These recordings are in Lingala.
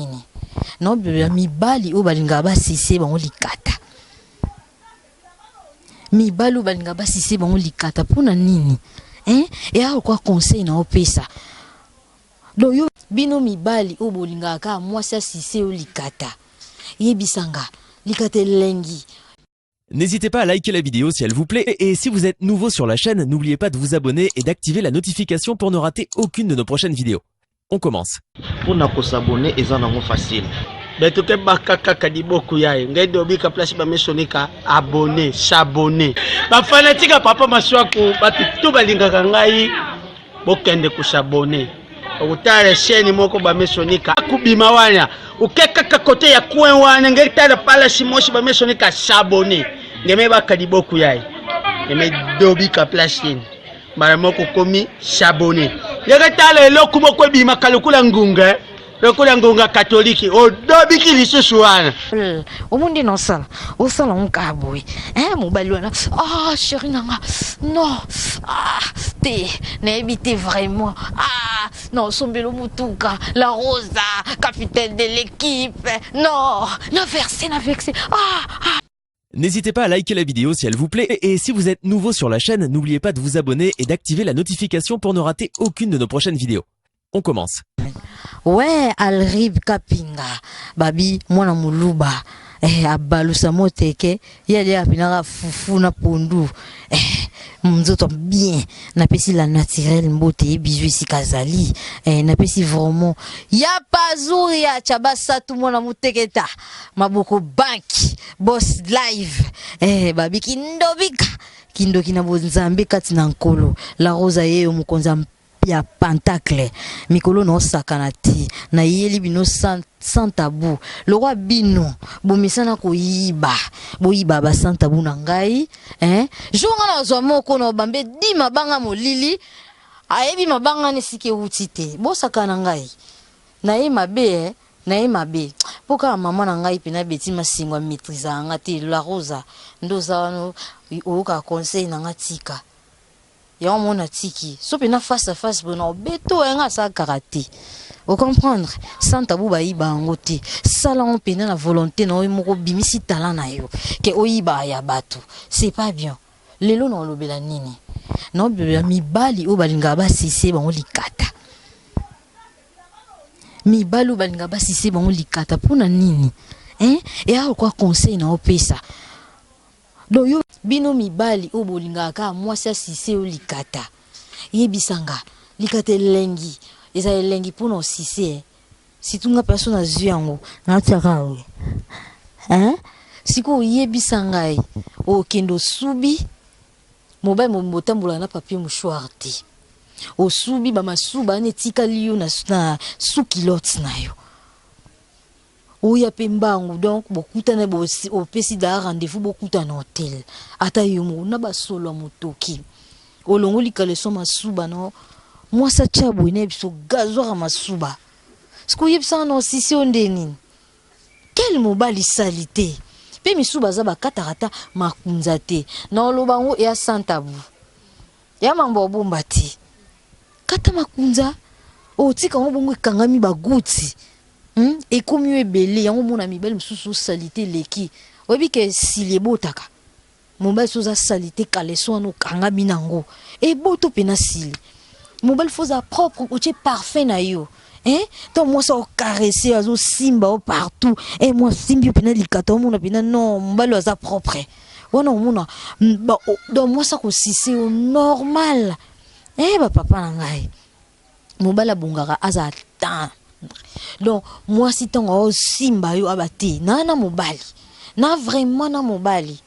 nini na obilola mibali oyo balingaka basise bango likata mibali oyo balingaka basise bango likata mpo na nini eh? eya lokwa conseil na opesa donc yo bino mibali oyo bolingaka kaka mwasi asise yo likata yebisanga likata elengi N'hésitez pas à liker la vidéo si elle vous plaît et si vous êtes nouveau sur la chaîne, n'oubliez pas de vous abonner et d'activer la notification pour ne rater aucune de nos prochaines vidéos. On commence. Pour nous s'abonner, ils en facile. beto ke baka kaka liboko ya ye ngai dobika place bamesonika abonne s'abonne bafanatika papa maswaku bato to balingaka ngai bokende ku s'abonner okutala chaîne moko bamesonika akubima wana oke kaka kote ya coin wana nge tala palasi mosi bamesonika sabone ngeme bakadi boku yaye ngeme dobika place yeni mbala moko komi sabone ngeke tala eloko moko ebimaka lokola ngunga lokola ngonga katolike odobiki lisusu wana hmm, omonde na osala osala onkaa boye eh, mobali wana ah sheri na nga non ah, te nayebi te vraiment ah, na osombelo motuka la rosa capitaine de l'équipe non na verse na vexe ah, ah. N'hésitez pas à liker la vidéo si elle vous plaît et si vous êtes nouveau sur la chaîne, n'oubliez pas de vous abonner et d'activer la notification pour ne rater aucune de nos prochaines vidéos. On commence. Ouais, Alrib Kapinga, Babi, moi na Muluba. Eh, abalusa moteke, yali apinaka fufu na pondu. Eh, mzoto bien, napesi la naturelle mbote ye bizu esika zali. Eh, napesi vraiment. Ya pazuri ya chabasatu mwana muteketa. mabuku bank boss live eh, babi kindobika kindoki na bonzambe kati na nkolo la rosa yeyo mokonzi ya ya pentacle mikolo naosakana te nayeli bino sans, sans tabu lokwa bino bomesana koyiba boyiba ba sans tabu na ngai eh? jour nga nazwa moko na obambe di mabanga molili ayebi mabanga nesika ewuti te bosakana ngai naye mabe eh? naye mabe po kaka maman na ngai pena Betty Masengo a maitrisaka nga te La Rosa nde oza wana oyokaka conseil na nga tika yango moko natiki so pena face à face boye nakobeto ya nga asala kaka te o comprendre sans tabou bayiba yango te sala yango pena na volonté na yo moko obimisi talent na yo ke oyibaka ya bato c'est pas bien lelo naolobela nini naolobela mibali oyo balingaka basese bango likata mibali oyo balinga basise bango likata mpo na nini eh? eya lokwa conseil na opesa donc yo bino mibali oyo bolingaka kaka mwasi asise yo likata yebisa nga likata elengi eza elengi mpo na osise eh? situ nga mpenso nazwi yango natyaka yango eh? sikoyo oyebisa ngai okende osubi Mobali mobimba otambolaka na papier mouchoir te. Osubi ba masuba wana etikali yo na, na sous culotte na yo. Oya pe mbangu donc bokutana bo opesi da rendez-vous bokutana na hotel. Ata yo moko na ba solo ya motoki. Olongoli caleçon masuba no mwasi atya boye na ye biso gazoira masuba. Sikoyo yebisa nga na osisi yo nde nini? Quel mobali salite pe misusu baza bakataka ata makunza te na oloba yango ya santabu ya mambo obomba te kata makunza otika yango bongo ekangami baguti hmm? ekomi yo ebele yango omona mibali mosusu salite eleki oyebi ke sili ebotaka Mobali soki oza salite caleçon wana okangami na yango eboto mpe nasili. Mobali faut oza propre otie parfum na yo eh to mwasi aokarese azosimba yo partout eh mwa simbi yo mpena likata omona mpena non mobali aza propre wana omona donc mwasi akosise yo normal eh bapapa na ngai mobali abongaka aza temps donc mwasi ntango aosimba yo aba te naa na mobali na vraiment na mobali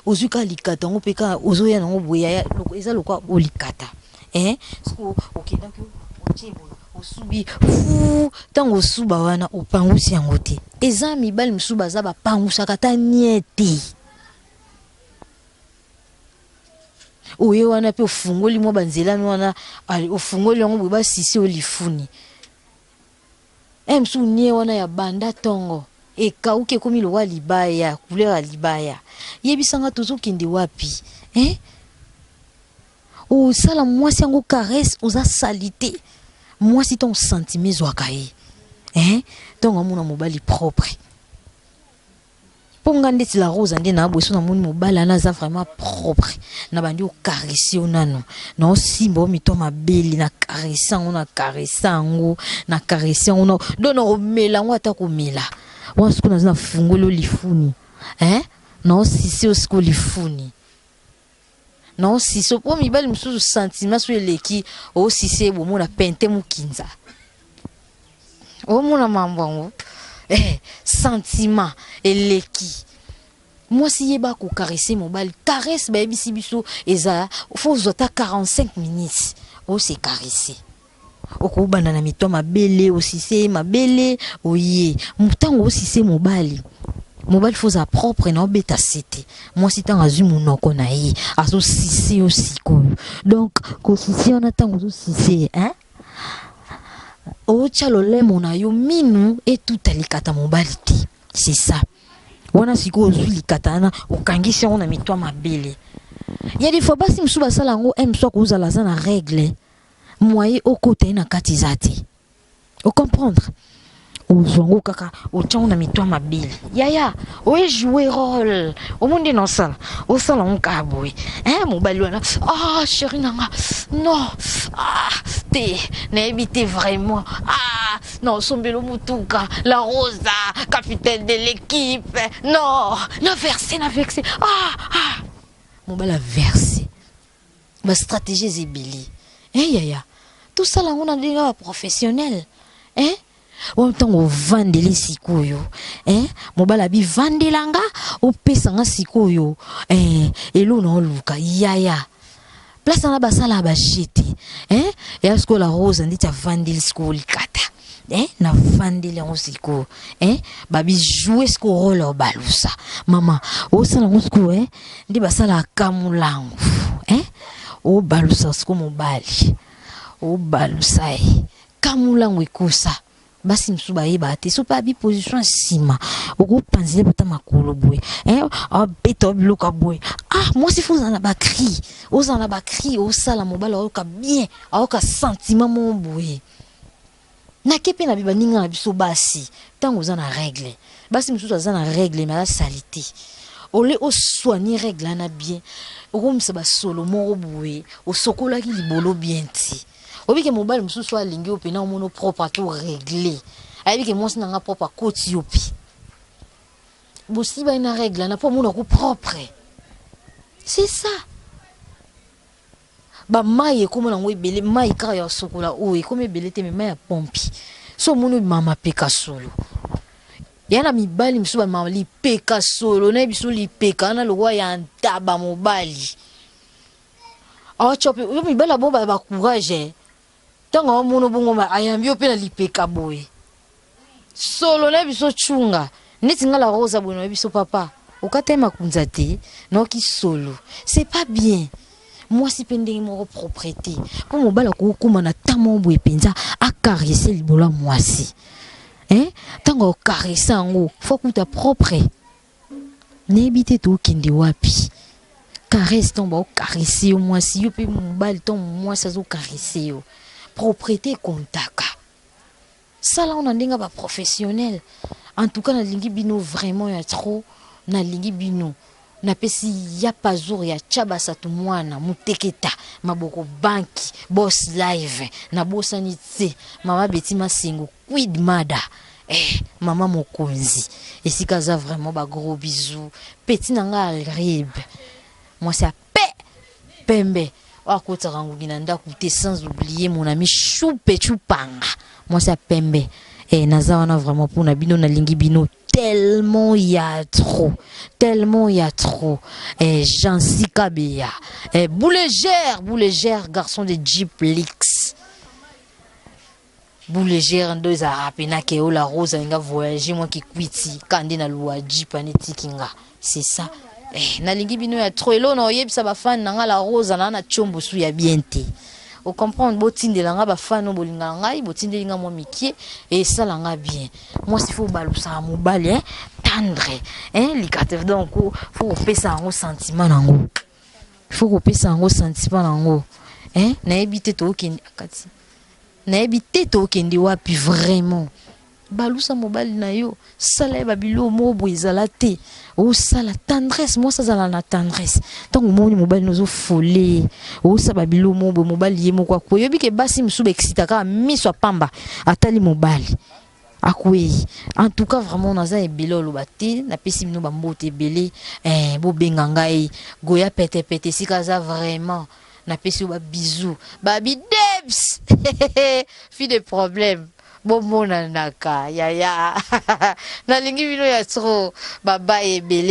ozwi kaka likata yango mpe kaka ozoya nango boye yaya eza lokwa olikata eh, soki okendaki otie boye osubi fu ntango osuba wana opangusi yango te eza mibali mosusu baza bapangusaka ata nie te oye wana mpe ofungoli mwa banzelami wana ofungoli yango boye basisi oyo lifuni e mosusu nie wana ya banda ntongo ekauki ekomi lokola libaya couleur ya libaya yebisanga tozokende wapi eh? osala mwasi yango caresse oza salite mwasi ntango sentime ezwaka ye eh? ntango amona mobali propre Po nga ndeti la rosa nde na bweso na moni mobali wana aza vraiment propre na bandi ko caresse yo nanu na osimba yo mitu ya mabele na caresse yango na caresse yango na caresse yango na donc na komela yango ata komela wana sikoyo naza na fungoli yo lifuni eh na osise yo sikoyo lifuni Non siso po mibali mosusu sentiment so eleki osise oh, bomona pente mokinza omona mambo yango eh, sentiment eleki mwasi ye bakokarese mobali caresse bayebisi biso eza fo ozwa ata 45 minutes ose oh, caresse Okobanda na mito mabele, osise mabele, oye. Ntango osise mobali, mobali fo ozala propre na obeta sete. Mwasi ntango azwi monoko na ye, azosise yo sikoyo. Donc, kosise wana ntango ozosise, hein? otya lolemo na yo minu etuta likata mobali te c'est ça wana sikoyo ozwi likata wana okangisi yango na mitwa mabele ya difo basi mosusu basala yango eh, m mosusu akozala aza na règle moye okota ye na kati eza te ocomprendre ozwa ngo kaka otyango na mitwa mabele yaya oye joue role omo nde na osala osala ngo kaka boye e eh, mobali wana a ah, sheri na nga non ah, te nayebi te vraiment ah, na osombelo motuka la rosa capitaine de l'équipe non na verse na verse ah, ah. mobali averse ba strategies ebele eh yaya tosala yango na ndenge ya professionnel eh oyo ntango ovandeli sikoyo eh, mobali abivandela nga opesa nga sikoyo eh, eloo na oluka yaya place wana basala bajete eh, ya sikoyo la rose andeti avandeli sikoyo likata eh na vandeli yango sikoyo eh babijoue sikoyo role ya balusa mama osala yango sikoyo eh nde basalaka molango eh obalusa sikoyo mobali obalusa ye eh. kamolango ekosa basi mosusu bayebaka te soki abi position nsima okopanzile bata makolo boye eh, abeta o biloko ya boye ah mwasi fo ozala na bacri ozala na bacri osala mobali ayoka bien ayoka sentiment moko boye na kepe na baninga na biso basi ntango oza na regle basi mosusu aza na regle me aza salite ole osoigne regle wana bien okomisa basolo moko boye osokolaki libolo bien ti obike mobali mosusu alingi yo mpe na omono propre to regle ayebi ke mwasi na nga propre akoti yo mpe bosibani na regle wana mpo omonako propre c'est ça Ba mayi ekoma nango ebele mayi kaka ya sokola oyo ekoma ebele te mais mayi ya pompi so omoni obima mapeka solo ya na mibali mosusu bamama lipeka solo nayebi so lipeka wana lokola ya ntaba mobali awa cope yo mibali ya bongo baza ba courage eh. Tango azo mono bongo mais ayambi yo pe na lipeka boye solo na biso chunga neti nga la rosa boye na biso papa okata ye makunza te no ki solo c'est pas bien mwasi pe ndenge moko proprete po mobala kokoma na temps moko boye penza a caresse libolo ya mwasi eh tango ocaresse yango faut kuta propre nayebi te tokende wapi caresse ntango baokarese yo mwasi yo mpe mobali ntango mwasi azokarese yo propriété ekontaka sala ona ndenge baprofessionnel en tout cas nalingi bino vraiment ya trop nalingi bino napesi ya pazour ya chabasatu mwana muteketa maboko banki bos live nabosani te mama beti masengo Quid mada eh mama mokonzi esika aza vraiment ba gros bisous petit na nga alrib mwasi ya pe pembe oyo akotisaka ngugi na ndako te sans oublier mon ami shupe chupanga mwasi ya pembe eh naza wana vraiment mpo na bino nalingi bino tellement il y a trop, tellement il y a trop. Et eh, Jean Sikabia, et eh, Boulégère, Boulégère, garçon de Jeep Lix. Boule gère ndo ezalaka pena ke o la rose alinga voyage mwa kikwiti ka nde na lua jeep ani tiki nga c'est ça eh, nalingi bino ya trop elona oyebisa bafani na nga la rose na na chombo su ya bien te ocomprendre botindela nga bafani bolingaka ngai botindeli nga mwa mikie esala nga bien mwasi fo obalusaka mobali eh? tendre eh? likate donc fo kopesa yango sentiment na yango fo kopesa yango sentiment na yango eh? nayebi te tookende akati nayebi te tokende wapi vraiment balusa mobali na yo sala ye babiloko moko boye ezala te osala tendresse mwasi azala na tendresse ntango omoni mobali nozo fole osala babiloko moko boye mobali ye moko akoyobi ke basi mosusu baexita kaka miso ya pamba atali mobali Akueyi en tout cas vraiment naza ebele oloba te na pesi bino ba mbote ebele eh bo benga ngai goya pete pete esika aza vraiment na pesi yo ba bisous ba bidebs fille de problème bo mona naka yaya na lingi bino ya trop ba baye ebele